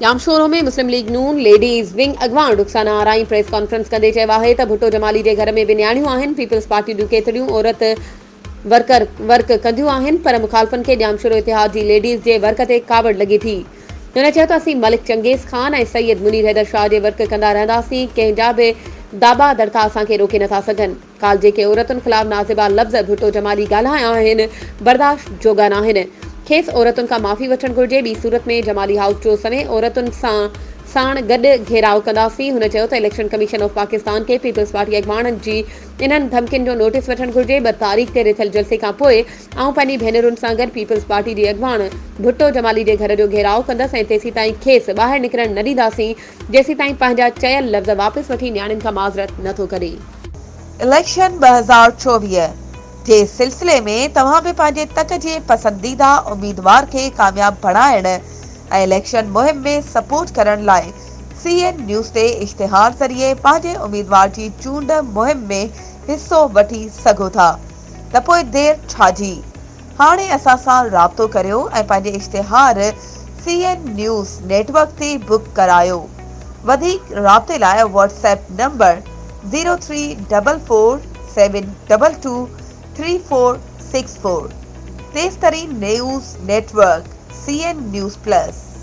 ڄامشورو ۾ مسلم ليگ ن ladies wing اڳواڻ Rukhsana Arain press conference ڪندي چيو آهي ته ڀٽو جمالي جي گهر ۾ به نياڻيون آهن پيپلز پارٽي جون ڪيتريون عورت ورڪر ورڪ ڪنديون آهن پر مخالفن کي ڄامشورو اتحاد جي ليڊيز جي ورڪ تي ڪاوڙ لڳي ٿي. هن چيو ته اسين ملڪ چنگيز خان ۽ سيد منير حيدر شاهه جي ورڪ ڪندا رهنداسين ڪنهن جا به داٻا دڙڪا اسان کي روڪي نٿا سگهن. ڪالهه جيڪي عورتن خلاف نازيبا لفظ ڀٽو جمالي ڳالهايا آهن برداشت جوڳا ناهن. کيس عورتن کان معافي وٺڻ گهرجي ٻي صورت ۾ جمالي هائوس جو سوين عورتن سان ساڻ گڏ گهيراء ڪنداسين. هن چيو ته اليڪشن ڪميشن آف پاڪستان کي پيپلز پارٽي اڳواڻن جي انهن ڌمڪين جو نوٽيس وٺڻ گهرجي، ٻه تاريخ تي رٿيل جلسي کان پوء آئون پنهنجي ڀينرن سان گڏ پيپلز پارٽي جي اڳواڻ ڀٽو جمالي جي گهر جو گهيراء ڪندس ۽ تيسيتائين کيس ٻاهر نڪرڻ نه ڏينداسين جيسيتائين پنهنجا چيل لفظ واپس وٺي نياڻين کان معذرت نه ٿو ڪري. اليڪشن ٻه هزار چوويهه جي سلسلي ۾ توهان به پنهنجي تڪ جي پسنديده اميدوار کي ڪامياب بڻائڻ ۽ اليڪشن مهم ۾ سپورٽ ڪرڻ لاء سي اين نيوز تي اشتهار ذريعي پنهنجي اميدوار جي چونڊ مهم ۾ حصو وٺي سگهو ٿا ته پوء دير ڇا جي هاڻي اسان سان رابطو ڪريو ۽ پنهنجي اشتهار C N news network تي بڪ ڪرايو وڌيڪ رابطي لاء WhatsApp number zero three double four seven double two three four six four تيفترين news network C N news plus.